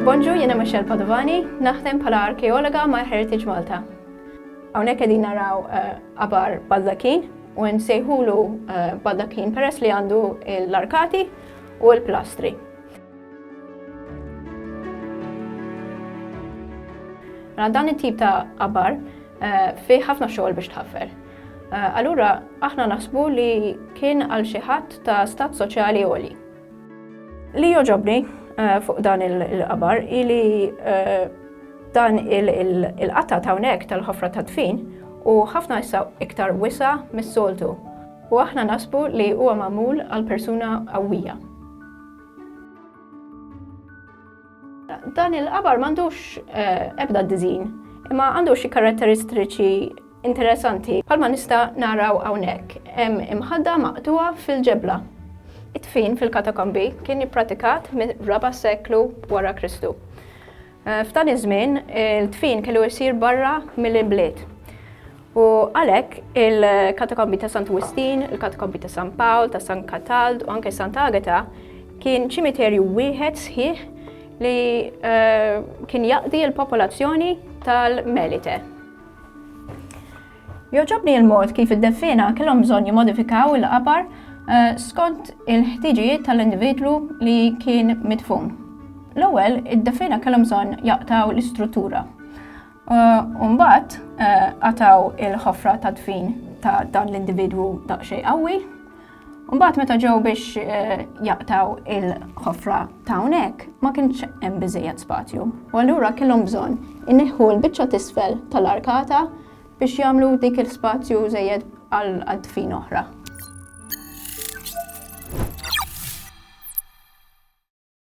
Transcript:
Bonġu, jena Michelle Padovani, naħdem bħala arkeologa ma' Heritage Malta. Hawnhekk qegħdin naraw eh, abar baldakin u nsejħulu eh, baldakin peress li għandu l-arkati u l-plastri. Mela dan it-tip ta' qabar eh, fi ħafna xogħol biex tħaffer. Eh, allura aħna naħsbu li kien għal xi ħadd ta' stat soċjali għoli. Li joġobni eh, fuq dan il-qabar ili dan il-qatta ta' hawnhekk tal-ħofra ta' tfin u ħafna issa iktar wisa mis-soltu. U aħna nasbu li huwa magħmul għal persuna qawwija. Dan il-qabar m'għandux eh, ebda dizin, imma għandu xi karatteristiċi interessanti. Palma nista' naraw hawnhekk hemm imħadda maqtuha fil-ġebla. It-tfin fil-katakombi kien ippratikat mir-raba' seklu wara Kristu. F'dan iż-żmien, il-dfin kellu jsir barra mill-bliet. U għalhekk il-katakombi ta' Sant Wistin, il-katakombi ta' San Pawl, ta' San Katald u anke Sant Agata kien ċimiterju wieħed sħiħ li eh, kien jaqdi l-popolazzjoni tal-Melite. Jogħġobni l-mod kif id-deffiena kellhom bżonn jimmodifikaw il-qabar eh, skont il-ħtiġijiet tal-individwu li kien midfun. L-ewwel, id-deffiena kellhom bżonn jaqtaw l-istruttura. Eh, u mbagħad eh, qataw il-ħofra ta' dfin ta' dan l-individwu daqsxejn qawwi Mbagħad meta ġew biex eh, jaqtaw il-ħofra ta' hawnhekk ma kienx hemm biżejjed spazju. U allura kellhom bżonn inneħħu l-biċċa tisfel tal-arkata biex jagħmlu dik il-spazju żejjed għal tfin oħra.